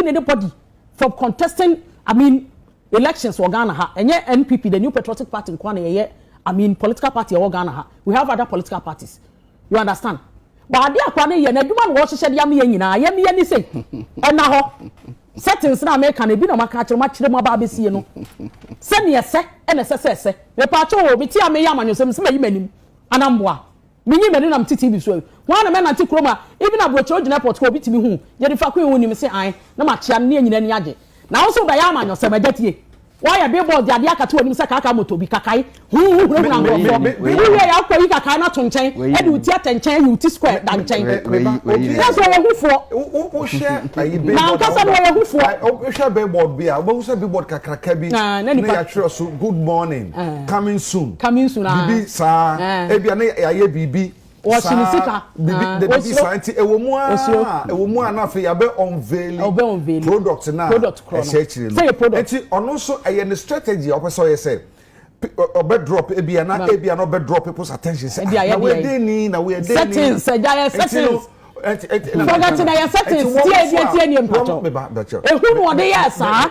in anybody from contesting I mean elections wɔ Ghana ha. Ɛnyɛ NPP, the New Patriotic Party nkoa na yɛyɛ I mean political party ɛwɔ Ghana ha. We have other political parties. You understand? But adeɛ akwa no yɛ n'adwuma na wɔhyehyɛ de ama yɛn nyinaa. Yɛn yɛn ni sɛ ɛna hɔ settings na meka no ebi na maka akyerɛ mu akyerɛ mu aba abɛsie no sɛdeɛ ɛsɛ ɛna ɛsɛ sɛ ɛsɛ. Mepaakyɛ o, mete a meyɛ amanyɔsɛm sɛ mayi m'anim anamboa. Menyin m'ani na mete TV so yi, hwan na mɛnante kurom a even aburokyerɛ ogyina airport hɔ a obi tumi hu gyede fako yi wonim se ae na makyea no ne anyina ani agye. Na wo nso wobɛyɛ amanyɔsɛm, agya tie. Woayɛ billboards de adeɛ akata w'anim sɛ kaakaa motor bi, kakae, huu wohunahuna nkurɔfoɔ, wowiee a wokɔyi kakae no ato nkyɛn de wo ti atɛnkyɛn ayi wo ti square da nkyɛn. Kyerɛ sɛ ɔyɛ hufoɔ. Na ankasa no ɔyɛ hufoɔ. Wohwɛ billboard bi a wobɛhu sɛ billboard kakraka bi na yɛatwerɛ so good morning. coming soon coming soon biribi saa ebi a na yɛayɛ biribi saa biribi de biribi saa nti ɛwɔ mu a ɛwɔ mu a na afei yɛabɛ unveil product na ɛhyɛ akyire no nti ɔno nso ɛyɛ ne strategy a ɔpɛ sɛ ɔyɛ sɛ ɔbɛ drop ebi a na ebi a na ɔbɛ drop people's attention sɛ na wɔyɛ den ni na wɔyɛ den ni settings ɛgya yɛ settings fɔgɛti na yɛ settings tie tie tie nie mpatɔ ehunu ɔde yɛ saa.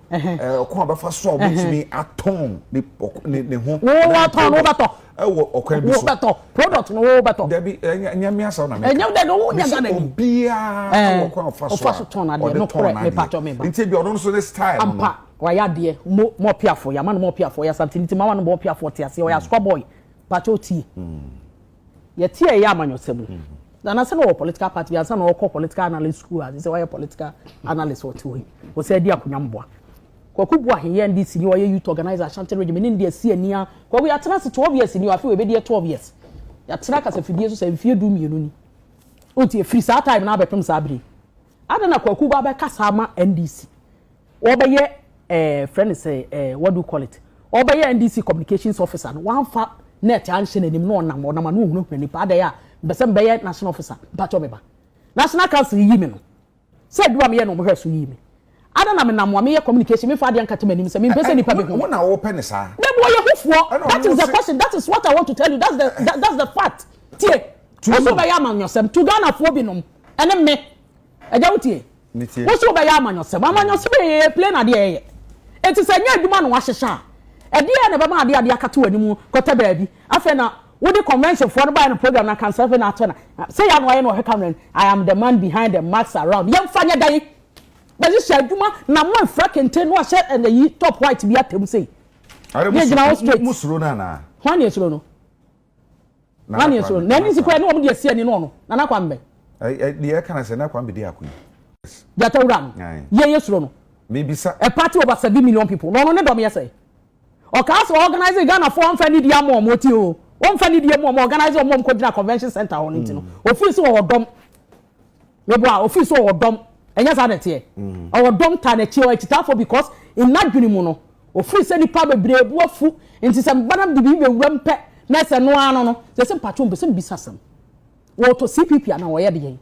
ɔkwan a ɔbɛfa so a ɔbɛtumi atɔn ne ne ne ho. wo watɔn wo bɛtɔ. ɛwɔ ɔkwan bi so. wo bɛtɔ product no wo bɛtɔ. dabi ɛnyɛ ɛnyɛ mi asa na mi ka. ɛnyɛ dɛ wo nya gana ni. bisi obiara wɔ ɔkwan ɔfa so a ɔde tɔn n'adeɛ nti bi ɔno nso ne style no. ampa wayɛ adeɛ mo mo ɔpiafo yamma no mo ɔpiafo ɔyɛ asante nti ma wa no mo ɔpiafo ɔte aseɛ ɔyɛ asukwa boy pakyɛ otie. yɛte a ɛyɛ amanyɔsɛm no na anasɛ na ɔwɔ political party bi ansa na ɔkɔ political analyst school a sɛ wayɛ political analyst ɔte hɔ yi ɔsɛ adi akonnwa mboa kwaku bu aheyɛ ndc ni ɔyɛ youth organizer ashanti regime ne ndeɛ si ani a kwaku yɛatena ase twelve years ni afei wɔbɛdi yɛ twelve years yɛatena kasafidie so sɛ mfie du mmienu ni ɔti ɛfiri saa time na abɛpem saa bere adɛn na kwaku ba bɛka saa ma ndc Wɔbɛyɛ ɛɛ frɛ no sɛ ɛɛ what do you call it ɔbɛyɛ NDC communications officer no wanfa net anhyɛ n'anim na ɔnam ɔnam ano hunahuna nipa adɛn a mpɛ sɛ mebɛyɛ national officer mpakyɛw me ba national council yi me no sɛ adwuma meyɛ no wɔn hwɛ so yii me ada na menam a meyɛ communication memfa adeɛ nkata m'anim sɛ mempɛ sɛ nipa behu me. Wo na wɔpɛ ne saa. Dabi wɔyɛ hufoɔ that is the question that is what I want to tell you that's the that, that's the fact tie. Tuo so bɛyɛ amanyɔsɛm to Ghanafoɔ binom ɛne me. Agya wo tie. Wo so wobɛyɛ amanyɔsɛm. Amanyɔsɛm yɛ yɛyɛ plane adeɛ ɛyɛ. Eti sɛ nyɛ adwuma na wahyehyɛ a, ɛdeɛ na ɛbɛma adeɛ adeɛ akate w'anim kɔtɛ baabi. Afei na wode convention foɔ no baeɛ no program no aka nsa afei na ato na sɛ yɛ ano ayɛ na ɔhwɛ camera no I am the man behind the mask around. Yɛmfa nyɛ dɛn? Bɛhyehyɛ adwuma na mo mfira kente na wahyɛ ɛyi top white bi atam sei. Yɛgyina hɔ straight. Mo suro no anaa? Hwan na ɛsuro no? Nana Kwame. Na ɛni si kura ne wɔn de asi ani no ɔno Nana Kwame. Deɛ ɛka na sɛ Nana Kwame de ako yi. Jata wura no yɛ yɛ suro no. Mebisa. A party over seven million people na ɔno ne dɔm yɛ sɛ. Ɔkaa sɛ organize Ghana fo ɔnfa ne die ama wɔn ɔti o. Ɔnfa ne die mu wɔn organize wɔn wɔn kɔ gyina convention center hɔ no nti no. Ofiri so wɔ hɔ dɔm. Meboa, ɔfeel sɛ ɔwɔ dɔm, ɛnyɛ saa na ɛteɛ? Ɔwɔ dɔm taa n'akyi, ɔyɛ akyitaafoɔ because in n'adwene mu no, ɔfeel sɛ nnipa bebree bo afu, nti sɛ meba na mede biribi bɛwura mu pɛ na ɛsɛ ɛno ara no no, sɛ sɛ mpakyɛw mepɛ sɛ mebisa asɛm, wɔtɔ CPP anaa wɔyɛ deɛn?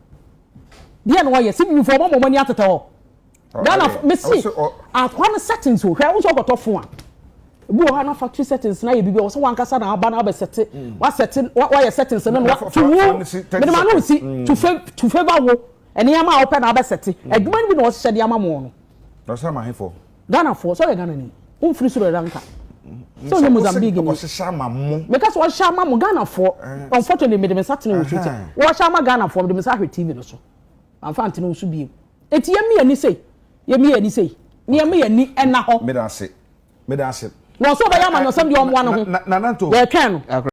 Deɛn na wɔyɛ? CPP foɔ moama wɔn ani atetɛ hɔ. Ghana fo me si akwa no settings o hwɛ wosɛ ɔkɔtɔ fo a ebi wɔ hɔ na factory settings na yɛ biribi a wɔsɛ wankasa na aba na abɛ sɛte mm. wasɛte wayɛ settings no na to wo mede ma no si mm. to fa to favour wo nneɛma a wɔpɛ na abɛ sɛte mm. adwuma no bi na wɔhyehyɛ de ama mo no. ɔsɛ ma hefo. Ghana fo sɛ ɔyɛ Ghana ni wofiri Sri Lanka sɛ ɔyɛ Mozambique ni meka sɛ wɔhyehyɛ ama mo Ghana fo eh. unfortunately mede me nsa tene wɔ so sɛ wɔhyehyɛ ama Ghana fo mede me nsa ahwɛ TV no so. Mamfa antene wo so bio. Enti yɛmmie ani sei. Yɛmmie ani sei. Na yɛmma yɛn ani nna hɔ. Meda ase. Meda ase. Wɔn nso wɔbɛyɛ amanyɔsɛm deɛ wɔn mmoa no ho. Nana Nto. Yɛretwɛn no.